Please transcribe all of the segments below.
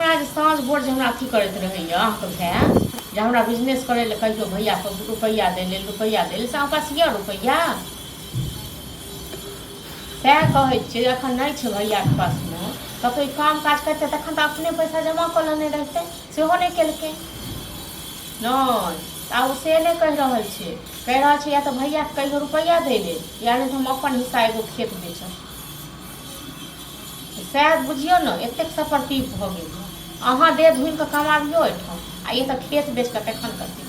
जे साँझ भोर जे हमरा अथी करैत रहैए अहाँके भाय जे हमरा बिजनेस करै लए कहियो भैया के रुपैआ दै लेल रुपैआ दै लेल से अहाँके पास यऽ रुपैआ सएह कहै छियै जे एखन नहि छै भैयाके पासमे तऽ कोइ काम काज करतै तखन तऽ अपने पैसा जमा कऽ लेने रहतै सेहो नहि केलकै नहि तऽ आब ओ से नहि कहि रहल छै कहि रहल छै या तऽ भैयाके कहियो रुपैआ दै लेल या नहि तऽ हम अपन हिस्सा एगो खेत बेचब शायद बुझियौ ने एतेक सफरती भऽ गेल अहाँ देह धुनि कऽ कमाबियौ एहिठाम आ ई तऽ खेत बेच कऽ तखन करतै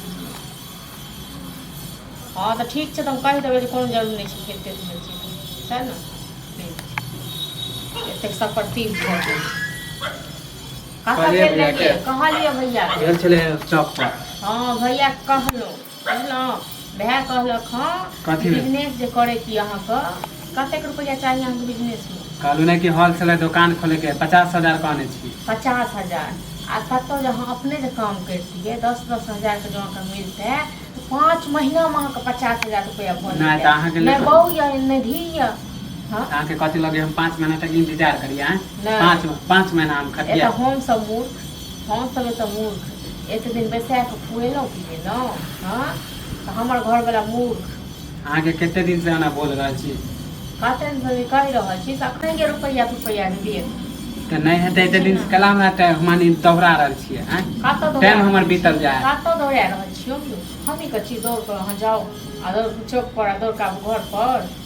हँ तऽ ठीक छै तऽ हम कहि देबै जे कोनो जरूरी नहि छै खेत तेत बेचै छै सएह ने ठीक छै। एतेक सफरती भऽ गेल कतऽ कहलियै गेल भैया रहियै के। कहलियै भैया के। गेल छलै चौक पर हँ भैया कहलहुँ बुझलहुँ वएह कहलक हँ कथी भेल? बिजनेस जे करै छी अहाँके कतेक रुपैआ चाही अहाँके बिजनेसमे कहलहुँ नहि कि होलसेलर दोकान खोलैके हइ पचास हजार कहने छी पचास हजार आ कतहु जे अहाँ अपने जे काम करितियै दस दस हजारके जँ अहाँके मिलतै तऽ पाँच महीनामे अहाँके पचास हजार रुपैआ भऽ नहि, जेतै तऽ अहाँके नहि लेल- बहू यऽ नहि धी यऽ हँ तऽ अहाँके कथी लगे हम पाँच महीना तक इन्तजार करियै आँय? नहि। पाँच पाँच महीना हम एतऽ खटियै हमसभ मूर्ख हम सब एतऽ मूर्ख एते दिन बैसा के खुएलहुँ पिएलहुँ हँ तऽ हमर घरवला मूर्ख अहाँके कते दिन से अना बोल रहल छी कते दिन से कहि रहल छी तखन के रुपैया तुपैया के देब तऽ नहि हेतै एते दिन से कला हमरा तऽ मानी दोहरा रहल छियै आँय? कतऽ दौड़ा टाइम हमर बीतल जा है कतऽ दौड़ा रहल छियौ हमही कहै छी दौड़ कऽ अहाँ जाउ आ दौड़ कऽ चौक पर आ दौड़ कऽ आबू घर पर